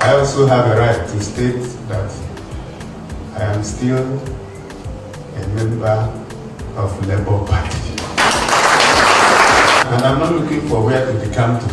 I also have a right to state that I am still a member of Labour Party. And I'm not looking for where to become to.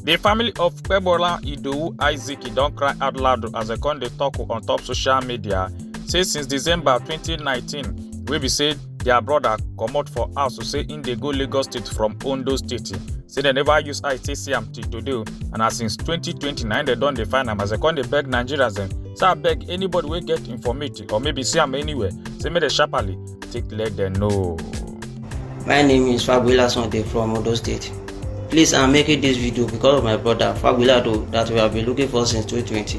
The family of Pebola Idowu Isaac don cry out loud as dem come dey talk on top social media say since December 2019 wey be say dia brother comot for house to say im dey go lagos state from ondo state say dem never use eye take see am till today o and as since 2020 na im dem don dey find am as dem come dey beg nigerians dem say abeg anybody wey get informate or maybe see am anywhere say make dem sharply take let dem know. My name is Fabiola Sunday from Odo State. Please, I'm making this video because of my brother Fabiola Ado that we have been looking for since 2020.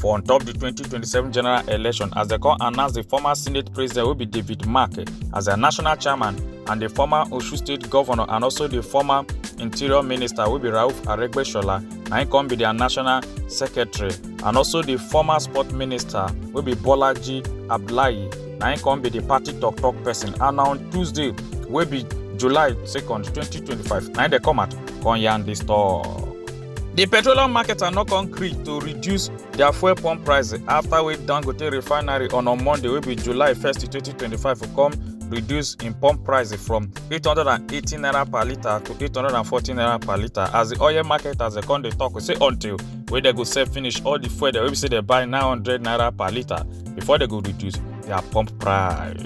for on top di 2027 general election as dem come announce di former senate president wey be david mark as their national chairman and di former osun state governor and also di former interior minister wey be rauf aregbesola na im come be their national secretary and also di former sport minister wey be bolaji abdullahi na im come be di party tok-tok person and on tuesday wey be july 2nd 2025 na im dey come out come yarn dis tok. di petroleum marketer no come gree to reduce dia fuel pump prices afta wey dangote refinery on on monday wey be july 1st 2025 come reduce im pump price from 818 naira per litre to 840 naira per litre as di oil marketers dey come dey tok say until wey dem go sell finish all di fuel dem wey be say dem buy 900 naira per litre before dem go reduce dia pump price.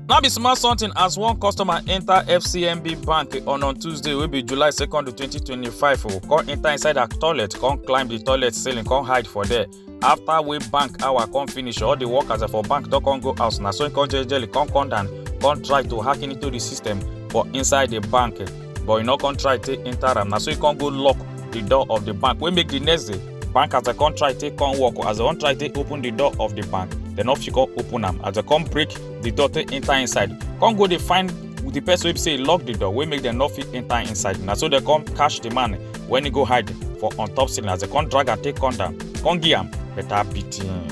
no be small something as one customer enter fcmb bank on on tuesday wey be july 2nd 2025 o come enter inside her toilet come climb the toilet ceiling come hide for there after wey bank hour come finish all the workers for bank don come go house na so he come jejely come come down come try to hack into the system for inside the bank but he no come try take enter am na so he come go lock the door of the bank wey make the next day bank as dem come try take come work as dem come try take open the door of the bank dem no fit come open am as dem come break the door take enter inside come go dey find the person wey be say e lock the door wey make dem no fit enter inside na so dem come catch the man when he go hide for on top ceiling as dem come drag am take come down come give am better beating.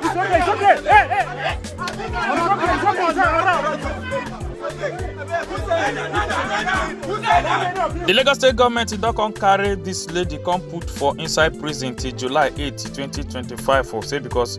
It's okay, it's okay. Hey, hey, hey. It's okay, it's okay. It's all right. The Lagos State government don come carry this lady come put for inside prison till July 8, 2025 for say because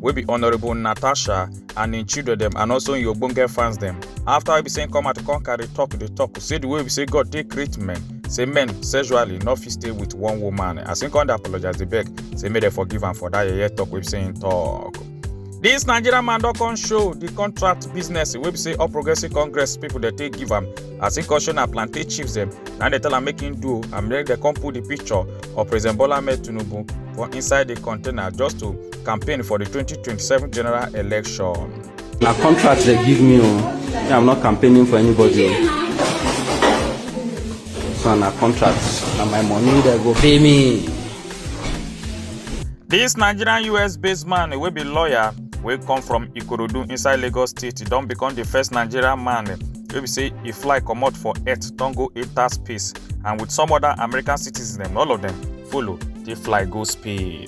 wey be honourable natasha and im children dem and also im ogbonge fans dem after wey be say im come out come carry talk dey talk say the way be say god take create men say men sexually no fit stay with one woman as im come dey apologize dey beg say make dem forgive am for that yeye talk wey be say im talk. This Nigerian man don come show the contract business wey be say All Progressive Congress people dey take give am as im come show na plantain chips dem na dey tell am make im do and make dem come put the picture of President Bola Ahmed Tinubu for inside the container just to campaign for the 2027 general election. na contract they give me o me i'm not campaigning for anybody o so na contract na my money they go pay me. This Nigerian US-based man wey be lawyer wey come from Ikorodu inside Lagos State don become the first Nigerian man wey be say e fly comot for earth don go enter space and with some other American citizens dem all of them follow dey fly go space.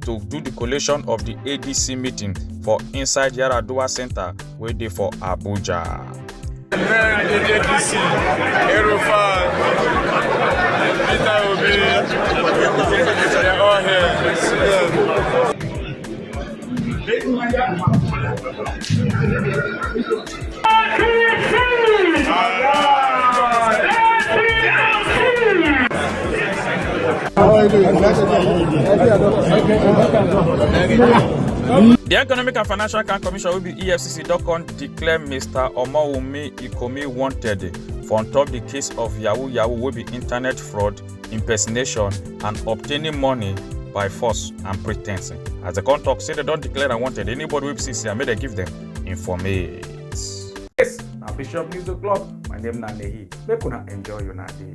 to do the collation of the adc meeting for inside yaradua centre wey dey for abuja. Bẹ́ẹ̀ ni ADC, Erufa, Peter Obi, they are all here. See them. The Economic and Financial Crime Commission will be EFCC don come declare Mr. Omowumi Ikomi wanted for on top the case of Yahoo Yahoo will be internet fraud, impersonation and obtaining money by force and pretencing. As the come talk say they don declare am wanted, anybody wey be see see am make dem give them. informate. Yes, na Bishop News O'Clock. My name na Nehi. Make una enjoy una day.